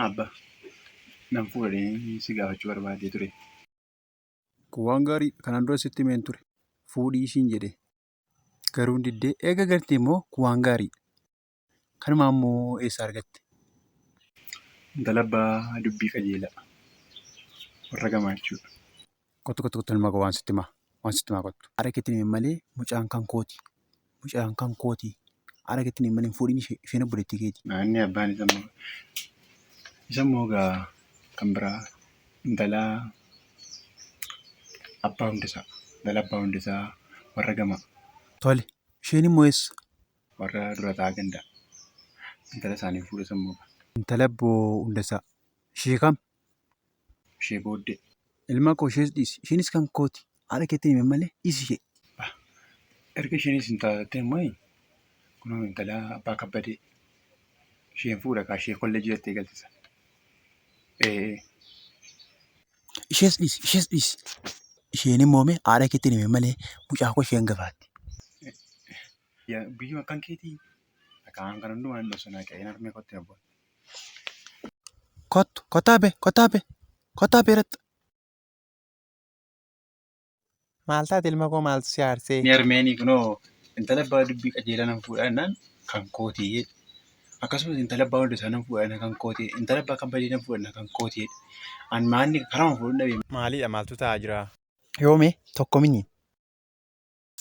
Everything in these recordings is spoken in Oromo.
Abba, nan fuudhee si gaafachuu barbaadee ture. Kun waan gaarii kanaan dura sitti himeen ture. Fuudhii siin jedhee. Garuu hin diddee. Eega gartee immoo kun waan gaarii. Kanuma ammoo eessaa argatte? Intala abbaa dubbii qajeelaa. Warra gamaachuu. Kottu kottu kottu ilma koo waan sitti himaa waan sitti himaa kottu. Haadha keetti himi malee mucaan kan kooti. Mucaan kan kooti. Haadha keetti himi malee hin fuudhin ishee isheen obboleettii keeti. Inni abbaan isa immoo isa immoo gaa kan biraa intala abbaa hundisaa intala abbaa hundisaa warra gamaa. Tole isheen immoo eessa? Warra dura ta'aa gandaa intala isaanii fuudhe isa immoo gaa. Intala abboo hundasaa ishee kam? ishee booddee. Ilma koo ishees dhiisi. Isheenis kan kooti. Haadha keetti hime malee dhiisi ishee. Erga isheenis hin taatee immoo kunoo intala abbaa kabbadee isheen fuudha kaa ishee kolleejii jettee galchisa. Ishees dhiisi. Ishees dhiisi. Isheen immoo mee haadha keetti hime malee mucaa koo isheen gafaatti. Biyyuma akkan keetii akkaan kan hundumaa hin dhosanaa qe'een harmee kootti abboon. Kottu, kottaa abbee, kottaa abbee, kottaa abbee irratti. Maal taate ilma koo maaltu si aarsee? Ni harmeenii kunoo intala abbaa dubbii qajeelaa nan fuudhaa jennaan kan kooti jedhe. Akkasumas intala abbaa hunda isaa nan fuudha jennaan kan kooti jedhe. Intala abbaa kan badee nan fuudha jennaan kan kooti jedhe. An maanni karama fuudhuu dhabe. Maalidha maaltu ta'aa jira? Yoomee tokko miniin.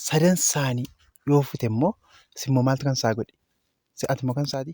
sadan isaanii yoo fute immoo simmoo maaltu kan isaa godhe si'aati immoo kan isaati.